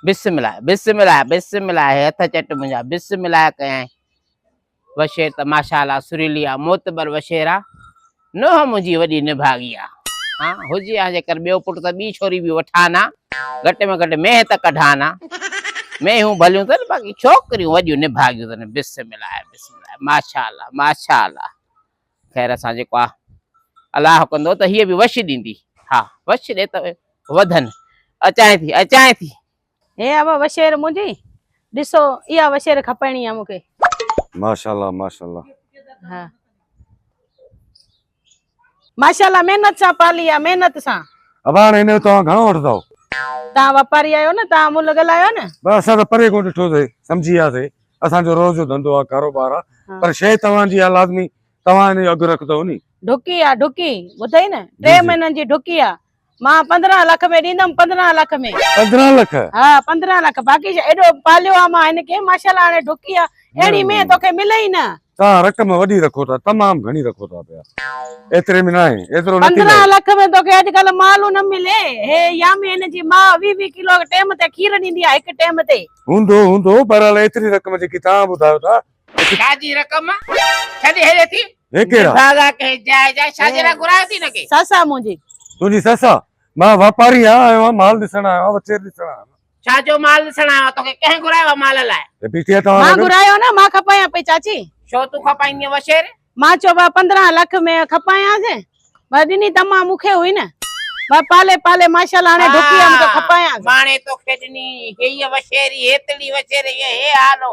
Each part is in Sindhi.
بسم الله بسم الله بسم الله هي هٿ چٽ منهنجا بسم الله ڪيائين وشير ته ماشا الله سريلي آ معتبر وشير آ نوهه منهنجي وڏي نڀاڳي آ ها هجي ها جيڪر ٻيو پٽ ته ٻي ڇوري به وٺان ها گهٽ ۾ گهٽ مينهن ته ڪڍان ها مينهون ڀليون اٿن باقي ڇوڪريون وڏيون نڀاڳيون اٿن بسم الله بسم الله ماشا الله ماشا الله خير سان جيڪو آ الله ڪندو ته هيء به وش ڏيندي. ها وش ڏي ته وڌن. اچانء ٿي، اچانء ٿي. هي اهو وشير منهنجي. ڏسو اها وشير کپائڻي آ مون کي. ماشاءالله ماشاءالله. ها. ماشاءالله محنت سان پالي آ محنت سان. اباڻ هن جو توهان گهڻو وٺندؤ. توهان واپاري آهيو نه توهان ملهه ڳالهايو نه. بس اسان ته پري ڪونه ڏٺو اٿئي سمجهي وياسي. اسان جو روز جو ڌنڌو آ ڪاروبار آ پر شئي توهان جي آ لازمي توهان ان جو اگهه رکندؤ ني. ڍڪي آ ڍڪي ٻڌئي نه ٽي مهينن جي ڍڪي آ مان پندرهن لک ۾ ڏيندم پندرهن لک ۾ پندرهن لک ها پندرهن لک باقي ايڏو پاليو آ مان هن کي ماشاءالله هاڻي ڍڪي آ اهڙي مينهن توکي ملئي نه توهان رقم وڏي رکو ٿا تمام گهڻي رکو ٿا پيا ايتري ۾ ناهي ايترو نه ٿيندو 15 لک ۾ توکي اڄ ڪل مالو نه ملي هي يامين جي ماء 20 20 ڪلو ٽيم تي کير ڏيندي آ هڪ ٽيم تي هوندو هوندو بهرحال ايتري رقم جيڪي توهان ٻڌايو ٿا ڇا جي رقم ڇڏي هلي ٿي هي ڪهڙا دادا ڪي جاء جاء ڇا جي لا گهرايو ٿي نه ڪي سس آ منهنجي تنهنجي سس آ مان واپاري آهيان آيو آهيان مال ڏسڻ آيو آهيان وٿير ڏسڻ آيو آهيان ڇا جو مال ڏسڻ آيو آهي توکي ڪنهن گهرايو آهي مال لاء مان گهرايو آهي نه مان کپايان پئي چاچي ڇو تون کپائيندينء وشير مان چيو ڀاء پندرهن لک ۾ کپايانسين ڀاء ڏني تمام مون کي هئي نه ڀاء پالي پالي ماشاءالله هاڻي ڍڪي هيم ته کپايانس ماڻي توکي ڏني هيء وشيري هيتڙي وشيري هيء حال هو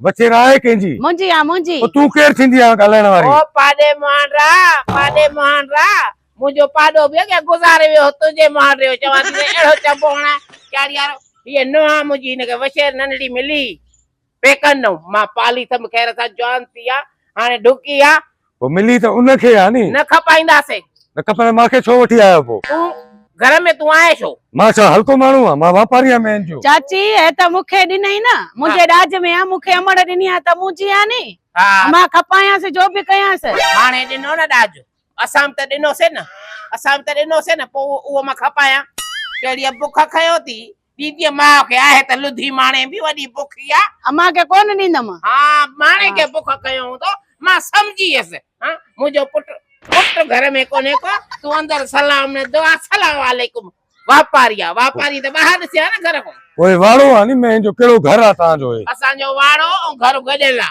وچير آهي ڪنهن جي؟ منهنجي آ منهنجي. او تون ڪير ٿيندي آهين ڳالهائڻ واري؟ او پاڏي مهاڻ را، پاڏي مهاڻ را، منهنجو پاڏو به اڳيان گذاري ويو هو تنهنجي مهاڻ ريو چوان ٿي سائين اهڙو چئبو هڻان چاڙهي وارو. هيء نونهن آ منهنجي هن کي وچير ننڍڙي ملي پيڪن ڏئون. مان پالي ٿم خير سان جوان ٿي آ هاڻي ڍڪي آ پوء ملي ته ان کي آ ني. نه کپائينداسين. نه کپندي مان کي ڇو وٺي آيو پوء. تون گهر ۾ تون آهين ڇو. مان ڇا هلڪو ماڻهو آهيان مان واپاري آهيان مين جو. چاچي هي ته مون کي ڏنئي نه منهنجي ڏاج ۾ آ مون کي امڙ ڏني آ ته منهنجي آ ني. مان کپايانس جو به ڪيانس. ماڻهي ڏنو نه ڏاج اسان به ته ڏنوسين نه اسان به ته ڏنوسين نه پوء اهو مان کپايان. ڪهڙيء بک کنيو ٿي ڏيندينء ماء کي آهي ته لڌي ماڻي به وڏي بک اها. امان کي ڪونه ڏيندم. ها ماڻي کي بک ڪيو هوندو مان سمجهي ويس. ها منهنجو پٽ پٽ گهر ۾ ڪونهي ڪو تون اندر سلام نه دعا سلام عليڪم واپاري آ واپاري ته ٻاهر ڏسي ها نه گهر کان. پوء واڙو آ ني مين جو ڪهڙو گهر آ تهان جو هي. اسان جو واڙو ۽ گهر گڏيل آ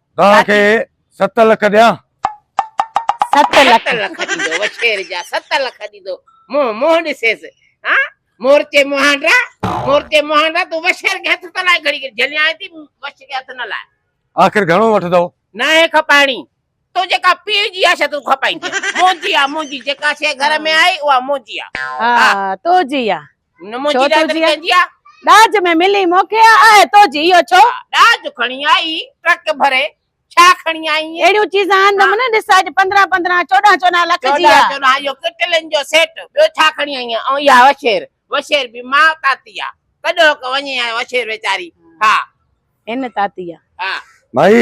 توهان کي ست لک ڏيان. ست لک ڏيندو وڇير جا ست لک ڏيندو منهن منهن ڏسيس ها مورچي مهانڊا مورچي مهانڊا تون وشير کي هٿ ته لائي گهڙي گهڙي جهليائين ٿي وش کي هٿ نه لائي آخر گهڻو وٺندو ناهي کپائڻي تو جيڪا پيء جي آ شا تون کپائيندين منهنجي آ منهنجي جيڪا شيء گهر ۾ آئي اها منهنجي آ ها تو جي آ ڇو تنهنجي ڏاج ۾ ملي موکي آ آهي توجي اهو ڇو ڏاج کڻي آئي ٽرڪ ڀري ڇا کڻي آئي اهي اهڙيون چيزان آندم نه ڏس اڄ پندرهن پندرهن چوڏهن چوڏهن لک جي آ چوڏهن چوڏهن اهو ڪٽلين جو سيٽ ٻيو ڇا کڻي آئي ۽ اها وشير وشير به ماء تاتي آ ڪڏهوڪ وڃي آ وشير ويچاري ها هن تاتي آ ها ڀائي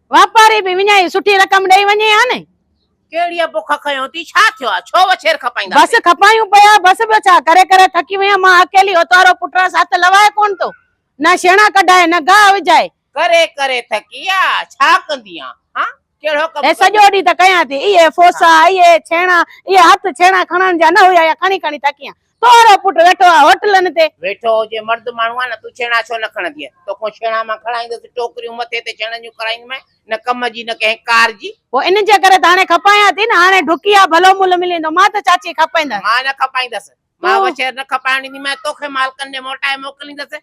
واپاري به وڃائي سٺي رقم ڏئي وڃي ها نه. ڪهڙي بک کنيو اٿي ڇا ٿيو آ ڇو وڇير کپائيندا بس پئي. کپايون پيا بس ٻيو ڇا ڪري ڪري ٿڪي ويم مان اڪيلي اوتارو پٽرس هٿ لوائي ڪونه ٿو نه شيڻا ڪڍائي نه گاهه وجهائي. ڪري ڪري ٿڪي آ ڇا ڪندينء ها ڪهڙو ڪم هي ڪندينء. سڄو ڏينهن ته ڪيان ٿي اهي ڦوسا اهي ڇيڻا اهي هٿ ڇيڻا کڻڻ جا نه هيا يا کڻي کڻي ٿڪيان تنهنجو پٽ ويٺو آهي هوٽلن تي. ويٺو هجي مرد ماڻهو آهي نه تون ڇيڻا ڇو نه کڻندينء توکون ڇيڻا مان کڻائيندس ٽوڪريون مٿي تي ڇيڻن جون کڻائيندومانء نه ڪم جي نه ڪنهن ڪار جي. پوء ان جي ڪري ته هاڻي کپايان ٿي نه هاڻي ڍڪي آ ڀلو ملهه ملي ويندو مان ته چاچي کپائيندس. مان نه کپائيندس مان وڇير نه کپائڻ ڏينديمانء توکي مالڪن ڏي موٽائي موڪليندس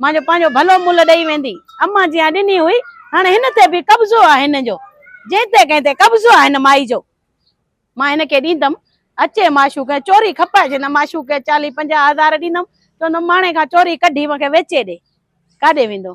مان جو پنهنجو ڀلو ملهه ڏئي ويندي امان جيان ڏني هئي هاڻي هن تي به قبضو آهي هن جو جنهن تي ڪنهن تي قبضو آهي هن مائي جو مان هن کي ڏيندم اچي معشوق چوري کپائي ڇڏيندم معشوق کي چاليهه پنجاهه هزار ڏيندم چوندم ماڻي کان چوري ڪڍي مونکي ويچي ڏي ڪاڏي ويندو